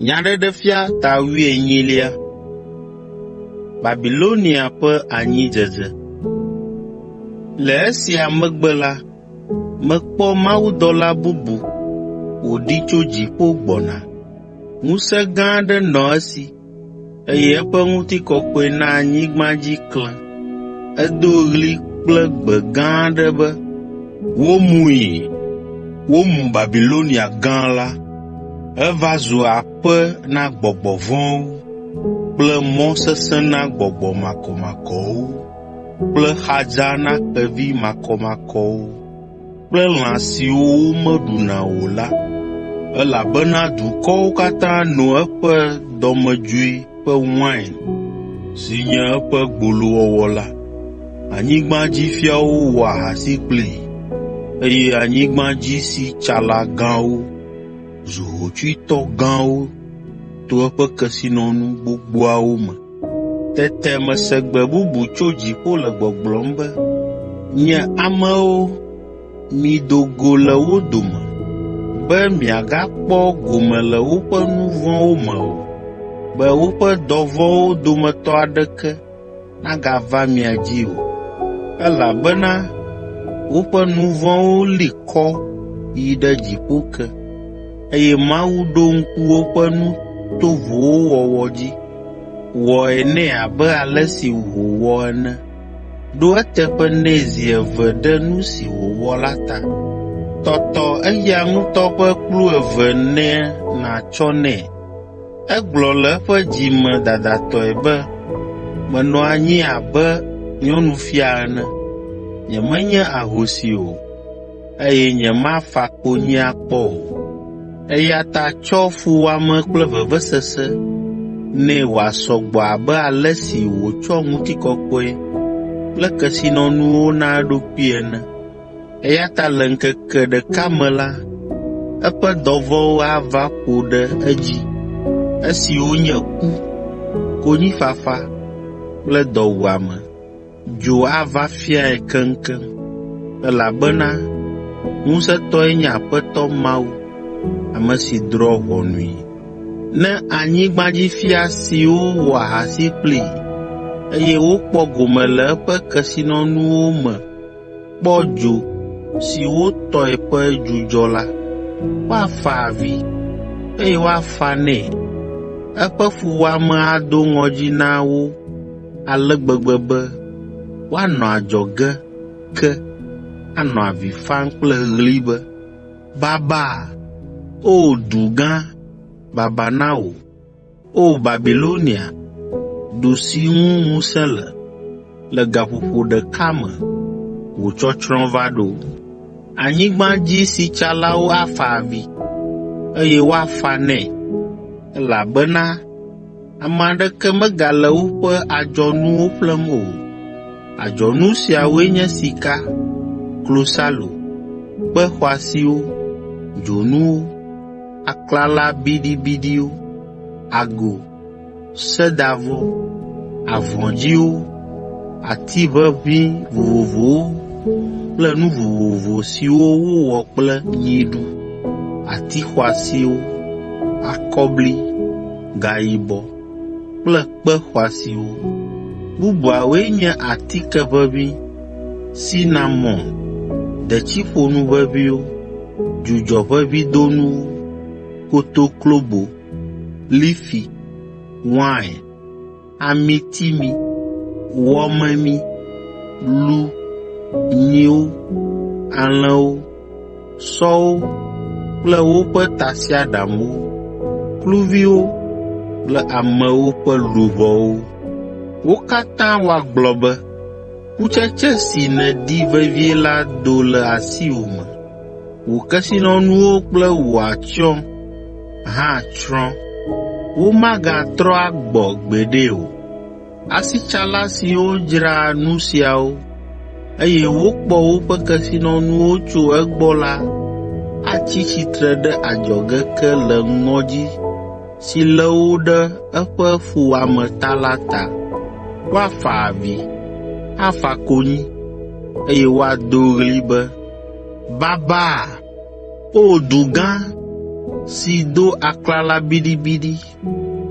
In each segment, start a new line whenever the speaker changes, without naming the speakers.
Nyaɖeɖefia ta wuienyilia. Babilonia ƒe anyidzedze. Le esia megbe la, mekpɔ mawudɔla bubu wòɖi tso dziƒo gbɔna. Ŋusẽ gã aɖe nɔ esi eye eƒe ŋutikɔkɔe na anyigba dzi klẽ. Edo ɣli kple gbe gã aɖe be, “Womui! Womu Babilonia Gã la! Eva zu aƒe na gbɔgbɔ vɔ̃wo kple mɔ sesẽ na gbɔgbɔ makɔmakɔwo kple xadza na xevi makɔmakɔwo.” kple lã siwo womeɖuna o la, elabena dukɔwo katã no eƒe dɔmedzoe ƒe wain, si nye eƒe gbolowɔwɔ la. Anyigbadzifiawo wɔ ahasi kplii, eye anyigbadzisitsala gãwo zu hotsuitɔ gãwo to eƒe kesinɔnu gbogboawo me. Tete mese gbe bubu tso dziƒo le gbɔgblɔm be, “Nye amewo, mido go le wo dome, be miagakpɔ gome le woƒe nu vɔ̃wo me o, be woƒe dɔ vɔ̃wo dometɔ aɖeke nagava mia dzi o, elabena woƒe nu vɔ̃wo li kɔ yi ɖe dziƒo ke, eye Mawu ɖo ŋku woƒe nu tovowo wɔwɔ dzi.” Wɔe nɛ abe ale si wòwɔ ene. Ɖo eteƒe nɛ zi eve ɖe nu si wòwɔ la ta. Tɔtɔ eya ŋutɔ ƒe kplu eve ne nàtsɔ nɛ. Egblɔ le eƒe dzi me dadatɔe be, “Menɔ anyi abe nyɔnufia ene, nyemenye ahosi o.” eye nyemafa konyi akpɔ o. Eya ta tsɔ fuwɔame kple vevesese nɛ wòasɔ gbɔ abe ale si wòtsɔ ŋutikɔkɔe kple kesinɔnuwo na eɖokui ene. Eya ta le ŋkeke ɖeka me la, eƒe dɔvɔ̃wo ava ƒo ɖe edzi, esiwo nye ku, konyifafa kple dɔwuame. Dzo ava fiae keŋkeŋ, elabena ŋusẽtɔe nye Aƒetɔ Mawu, ame si drɔ̃ ʋɔnui. Ne anyigbadzifia siwo wɔ ahasi kplii, eye wokpɔ gome le eƒe kesinɔnuwo me kpɔ dzo si wotɔe ƒe dzudzɔ la, woafa avi, eye woafa nɛ. Eƒe fuwɔame ado ŋɔdzi na wo ale gbegbe be woanɔ adzɔge ke anɔ avi fam kple ɣli be, “Baba, O du gã, baba na wò, O Babilonia, du si ŋu ŋusẽ le! Le gaƒoƒo ɖeka me wò tsɔtsrɔ̃ va ɖo. Anyigba dzi sitsalawo afa avi, eye woafa nɛ, elabena Ame aɖeke megale woƒe adzɔnuwo ƒlem o. Adzɔnu siawoe nye sika, klosalo, kpe xɔasiwo, dzonuwo, aklala biɖibiɖiwo, ago, sedavɔ, avɔ dzĩwo, ati ʋeʋĩ vovovowo kple nu vovovo siwo wowɔ kple nyiɖu, ati xɔasiwo, akɔbli, gayibɔ kple kpe xɔasiwo. Bubuawoe nye atike ʋeʋĩ, sinamon, detsiƒonu ʋeʋĩwo, dzudzɔʋeʋĩdonuwo, kotoklobo, lifi, wain, amiti mi, wɔ memi, lu, nyiwo, alẽwo, sɔwo kple woƒe tasiaɖamwo, kluviwo kple amewo ƒe luʋɔwo. Wo katã woagblɔ be, ‘Kutsetse si nèdi vevie la do le asiwò me.’ Wò kesinɔnuwo kple wò atsyɔ̃ hã tsrɔ̃. Womagatrɔ agbɔ gbeɖe o. Asitsala siwo dzra nu siawo, eye wokpɔ woƒe kesinɔnuwo tso egbɔ la atsi tsitre ɖe adzɔge ke le ŋɔdzi si lé wo ɖe eƒe fuwɔame ta la ta. Woafa avi, afa konyi, eye woado ɣli be, Babaa! O du gã, si do aklala biɖibiɖi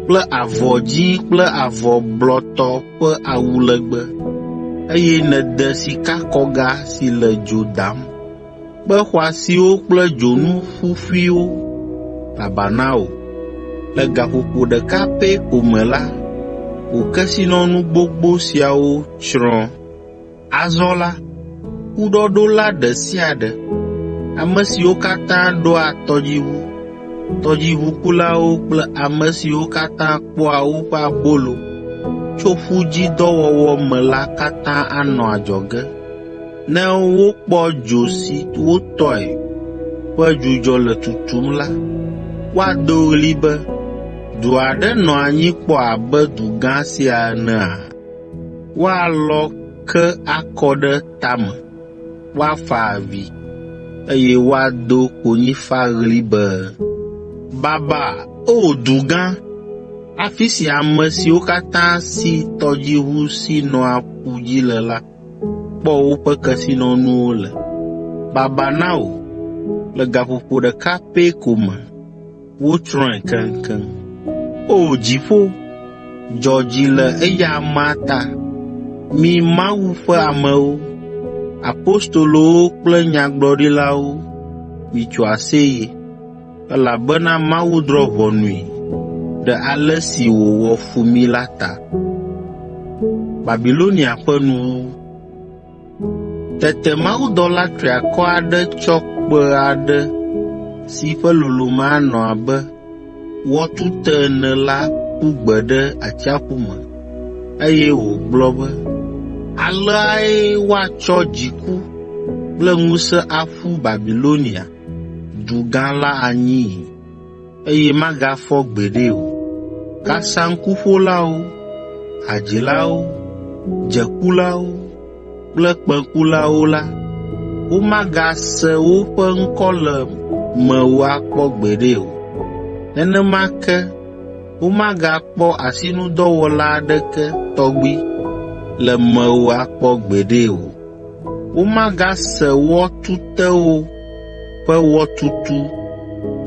kple avɔ dzĩ kple avɔ blɔtɔ ƒe awu legbe, eye nède sikakɔga si le dzo dam, kpe xɔasiwo kple dzonu ƒuƒuiwo! Baba na wò! Le gaƒoƒo ɖeka pɛ ko me la, wò kesinɔnu gbogbo siawo tsrɔ̃. Azɔ la, kuɖɔɖola ɖe sia ɖe, ame siwo katã ɖoa tɔdziʋu, tɔdziʋukulawo kple ame siwo katã kpɔa woƒe abolo tso ƒu dzi dɔ wɔwɔ me la katã anɔ adzɔge, ne wokpɔ dzo si wotɔe ƒe dzudzɔ le tutum la, woado ɣli be, ‘Dzo aɖe nɔ anyi kpɔ abe du gã sia enea?’ ” Woalɔ ke akɔ ɖe tame, woafa avi, eye woado konyifaɣli be, “Baba, O du gã, afi si ame siwo katã si tɔdziʋu si nɔa ƒu dzi le la kpɔ woƒe kesinɔnuwo le! Baba na wò, le gaƒoƒo ɖeka pɛ ko me!” Wotsrɔ̃e keŋkeŋ. O dziƒo, dzɔ dzi le eya amea ta, mi Mawu ƒe amewo, apostolowo kple nyagblɔɖilawo, mitso aseye! Elabena Mawu drɔ̃ ʋɔnui ɖe ale si wòwɔ fu mi la ta. Babilonia Ƒe Nuwuwu Tete mawudɔla triakɔ aɖe tsɔ kpẽ aɖe si ƒe lolome anɔ abe wɔtute ene la ƒu gbe ɖe atsiaƒu me, eye wògblɔ be, “Aleae woatsɔ dziku kple ŋusẽ aƒu Babilonia, du gã la anyii. eye magafɔ gbeɖe o. Kasaŋkuƒolawo, hadzilawo, dzekulawo kple kpẽkulawo la, womagase woƒe ŋkɔ le mewò akpɔ gbeɖe o. Nenema ke womagakpɔ asinudɔwɔla aɖeke tɔgbi le mewò akpɔ gbeɖe o. Womagase wɔ tutewo ƒe wɔtutu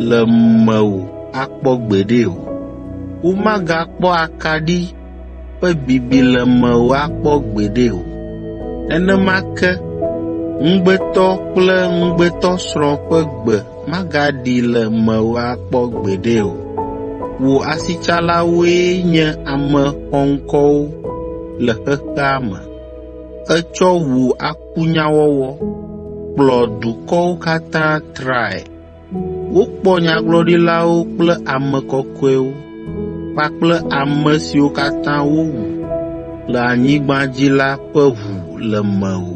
le mewò akpɔ gbeɖe o. Womagakpɔ akaɖi ƒe bibi le mewò akpɔ gbeɖe o. Nenema ke ŋugbetɔ kple ŋugbetɔsrɔ̃ ƒe gbe magaɖi le mewò akpɔ gbeɖe o. Wò asitsalawoe nye ame xɔŋkɔwo le xexea me. Ètsɔ ʋu akɔ kunyawɔwɔ kplɔ dukɔwo katã trae. Wokpɔ nyagblɔɖilawo kple ame kɔkɔewo kpakple ame siwo katã wowu le anyigba dzi la ƒe ʋu le mewò.